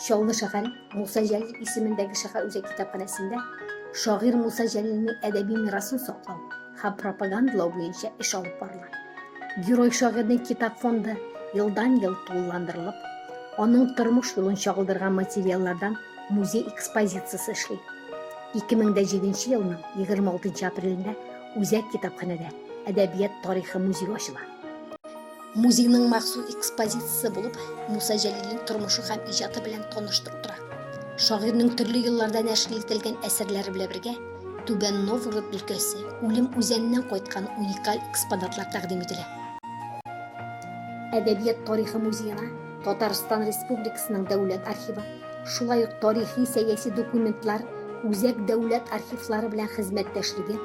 Чаллы шәһәре Муса Җәлил исемендәге шәһәр үзәк китапханәсендә шагыйр Муса Җәлилнең әдәби мирасын саклау һәм пропагандалау буенча эш алып барыла. Герой шагыйрьнең китап фонды елдан-ел тулыландырылып, аның тормыш юлын чагылдырган материаллардан музей экспозициясе эшли. 2007 елның 26 апрелендә Үзәк китапханәдә әдәбият тарихы музее ачыла. Музейның махсус экспозициясе булып Муса Җәлилнең тормышы һәм иҗаты белән таныштырып тора. Шагыйрьнең төрле елларда нәшер ителгән әсәрләре белән бергә Түбән Новгород өлкәсе үлем үзәненнән кайткан уникаль экспонатлар тәкъдим ителә. Әдәбият тарихы музеена Татарстан Республикасының Дәүләт архивы, шулай ук тарихи-сәяси документлар үзәк дәүләт архивлары белән хезмәттәшлеге,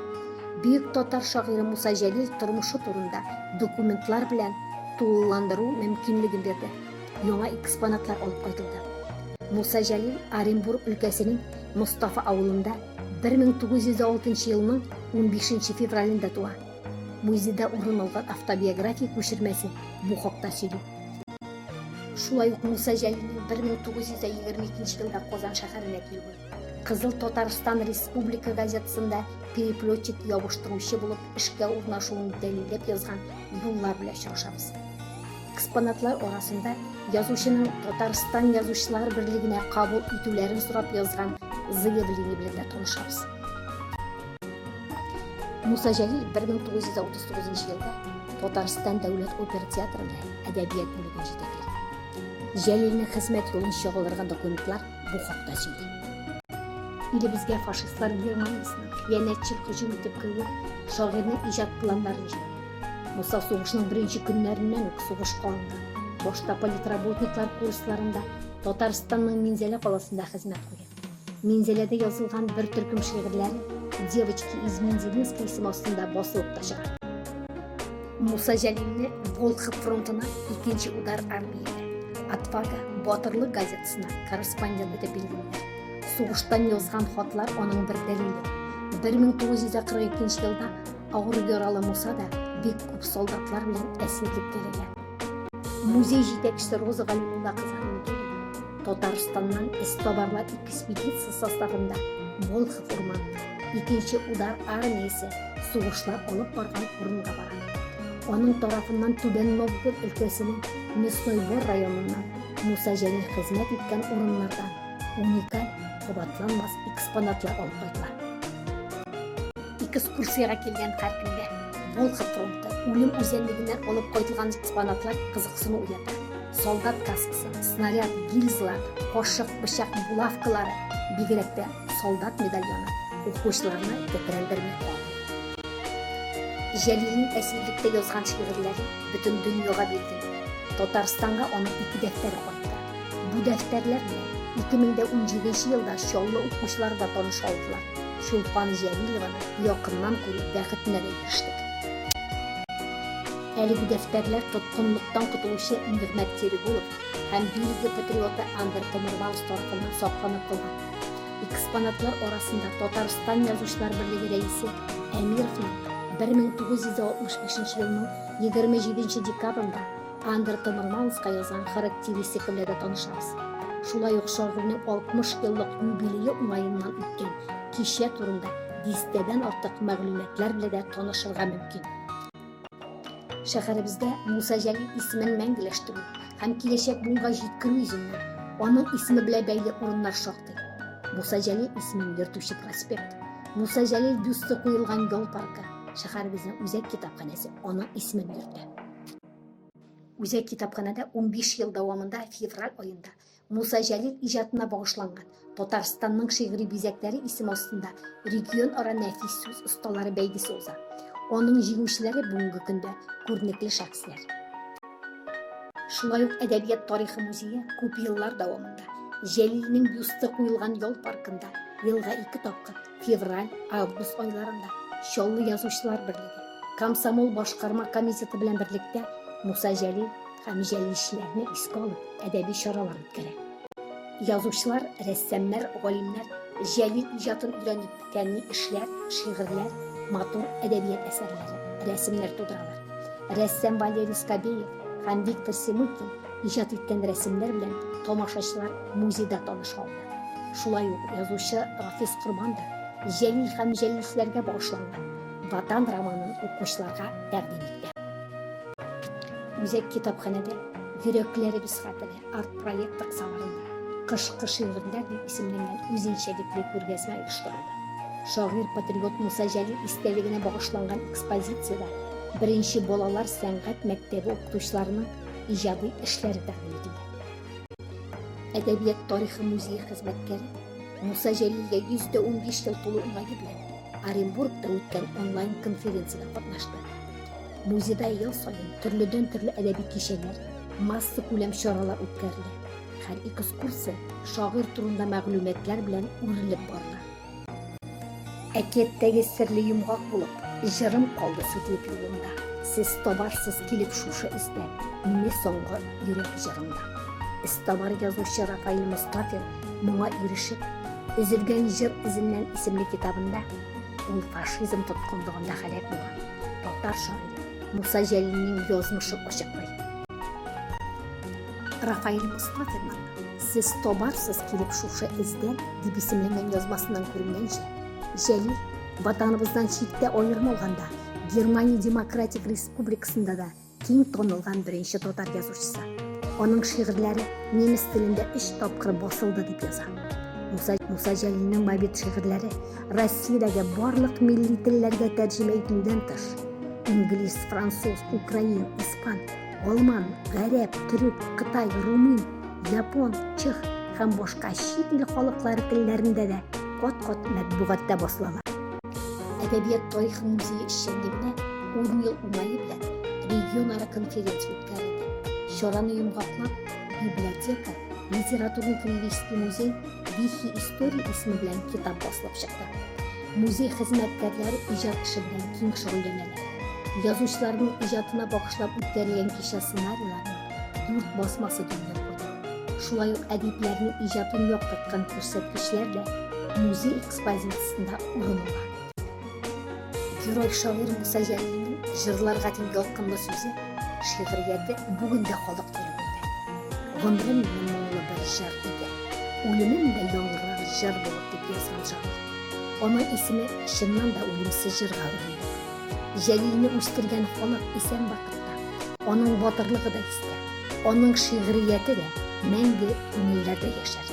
бөек татар шагыйре Муса Җәлил тормышы турында документлар белән тулыландыру мөмкинлеген бирде. Яңа экспонатлар алып кайтылды. Муса Җәлил Оренбург өлкәсенең Мостафа авылында 1906 елның 15 февралендә туа. Музейда урын алган автобиография күчермәсе бу хакта сөйли. Шулай ук Муса Җәлилнең 1922 елда Казан шәһәренә килүе, Кызыл Татарстан Республика газетасында переплетчик ябыштыручы булып эшкә урнашуын дәлилләп язган юллар белән очрашабыз. Экспонатлар арасында язучының Татарстан язучылар берлегенә кабул итүләрен сорап язган заявление белән дә танышабыз. Муса Җәлил 1939 елда Татарстан дәүләт опера театрында әдәбият бүлеген җитәкли. Җәлилнең хезмәт юлын чагылдырган документлар бу хакта сөйли. Илебезгә фашистлар Германиясенең хыянәтчел һөҗүм итеп керүе шагыйрьнең иҗат планнарын җимерә. Муса сугышның беренче көннәреннән үк сугышка алына. Башта политработниклар курсларында Татарстанның Минзәлә каласында хезмәт куя. Минзәләдә язылган бер төркем шигырьләр Девочки из Мензелинска исеме астында басылып та чыга. Муса Җәлилне Волхов фронтына икенче удар армияле Отвага батырлык газетасына корреспондент итеп билгелиләр. Сугыштан язган хатлар аның бер дәлиле. 1942 елда авыр яралы Муса да бик күп солдатлар белән әсирлек килгән. Музей җитәкчесе Роза Галимулла кызының Татарстаннан эзтабарлар экспедиция составында Волхов урманына, икенче удар армиясе сугышлар алып барган урынга бара. Аның тарафыннан Түбән Новгород өлкәсенең Мясной-Бор районыннан Муса Җәлил хезмәт иткән урыннардан уникаль кабатланмас экспонатлар алып кайта. экскурсиягә килгән һәркемгә Волхов фронты үлем үзәнлегеннән алып кайтылган экспонатлар кызыксыну уята. Солдат каскасы, снаряд, гильзалар, кошык, пычак, булавкалары, бигрәк тә солдат медальоны укучыларны тетрәндерми калмый. Җәлилнең әсирлектә язган шигырьләре бөтен дөньяга билгеле. Татарстанга аның ике дәфтәре кайтты. Бу дәфтәрләр белән 2017 елда Чаллы укучылары да таныша алдылар. Чулпан Җәлилованы якыннан күрү бәхетенә дә ирештек. Әлеге дәфтәрләр тоткынлыктан котылучы Нигъмәт Тирегулов һәм Бельгия патриоты Андер Томермаус тарафыннан сакланып калган. Экспонатлар арасында Татарстан Язучылар берлеге рәисе Әмировның 1965 елның 27 декабрендә Андерта Нормандская язган характеристика белән дә танышабыз. Шулай ук шагыйрьнең 60 еллык юбилее уңаеннан үткән кичә турында дистәдән артык мәгълүматлар белән дә танышырга мөмкин. Шәһәребездә Муса Җәлил исемен мәңгеләштерү һәм киләчәк буынга җиткерү йөзеннән аның исеме белән бәйле урыннар шактый. Муса Җәлил исемен йөртүче проспект, Муса Җәлил бюсты куелган ял паркы, шәһәребезнең үзәк китапханәсе аның исемен йөртә. Үзәк китапханәдә 15 ел дәвамында февраль аенда Муса Җәлил иҗатына багышланган Татарстанның шигъри бизәкләре исеме астында регион ара нәфис сүз осталары бәйгесе уза. Аның җиңүчеләре бүгенге көндә күренекле шәхесләр. Шулай ук әдәбият тарихы музее күп еллар дәвамында Җәлилнең бюсты куелган ял паркында елга ике тапкыр Февраль, август айларында Чаллы язучылар берлеге, комсомол башкарма комитеты белән берлектә Муса Җәлил һәм җәлилчеләрне искә алып, әдәби чаралар үткәрә. Язучылар, рәссамнар, галимнәр Җәлил иҗатын өйрәнеп, фәнни эшләр, шигырьләр, матур әдәбият әсәрләре, рәсемнәр тудыралар. Рәссам Валерий Скобеев һәм Виктор Семыкин иҗат иткән рәсемнәр белән тамашачылар музейда таныша ала. Шулай ук язучы Рафис Корбан да Җәлил һәм җәлилчеләргә багышланган Ватан романын укучыларга тәкъдим итте. Үзәк китапханәдә Йөрәкләребез хәтере арт-проект кысаларында Кышкы шигырьләр дип исемләнгән үзенчәлекле күргәзмә оештырылды. Шагыйрь-патриот Муса Җәлил истәлегенә багышланган экспозициядә беренче балалар сәнгать мәктәбе укытучыларының иҗади эшләре тәкъдим ителде. Әдәбият тарихы музее хезмәткәре Муса Җәлилгә 115 ел тулу уңае белән Оренбургта үткән онлайн-конференцияда катнашты. Музейда ел саен төрледән төрле әдәби кичәләр, масса күләм чаралар үткәрелә. Һәр экскурсия шагыйрь турында мәгълүматлар белән үрелеп барыла. Әкияттәге серле йомгак булып, җырым калды сүтеп юлымда. Сез табарсыз килеп шушы эздән, мине соңгы йөрәк җырымда. Эзтабар язучы Рафаил Мостафин моңа ирешеп, Өзелгән җыр эзеннән исемле китабында ул фашизм тоткынлыгында һәлак булган татар шагыйре Муса Җәлилнең язмышын ачыклый. Рафаэль Мостафинның Сез табарсыз килеп шушы эздән дип исемләнгән язмасыннан күренгәнчә, Җәлил Ватаныбыздан читтә аерым алганда, Германия Демократик Республикасында да киң танылган беренче татар язучысы. Аның шигырьләре немец телендә өч тапкыр басылды дип яза. Муса, Муса Җәлилнең мобит шигырьләре Россиядәге барлык милли телләргә тәрҗемә ителүдән тыш, инглиз, француз, украин, испан, алман, гарәп, төрек, кытай, румын, япон, чех һәм башка чит ил халыклары телләрендә дә кат-кат матбугатта басылалар. Әдәбият тарихы музее эшчәнлегенә 10 ел уңае белән регионара конференция үткәрелде. Чараны йомгаклап, библиотека, литературный-кривистый музей Вихи истории исеме белән китап басылып чыкты. Музей хезмәткәрләре иҗат эше белән киң шөгыльләнәләр. Язучыларның иҗатына багышлап үткәрелгән кичә сценарийларның дүрт басмасы дөнья күрде. Шулай ук әдипләрнең иҗатын яктырткан күрсәткечләр дә музей экспозициясендә урын ала. Герой шагыйрь Муса Җәлилнең җырларга дигән ялкынлы сүзе, шигърияте бүген дә халык йөрәгендә. Гомерем минем моңлы бер җыр иде, үлемем дә яңгырар җыр булып, дип язган шагыйрь. Аның исеме чыннан да үлемсез җырга әверелде. Җәлилне үстергән халык исән вакытта, аның батырлыгы да истә, аның шигърияте дә мәңге күңелләрдә яшәр.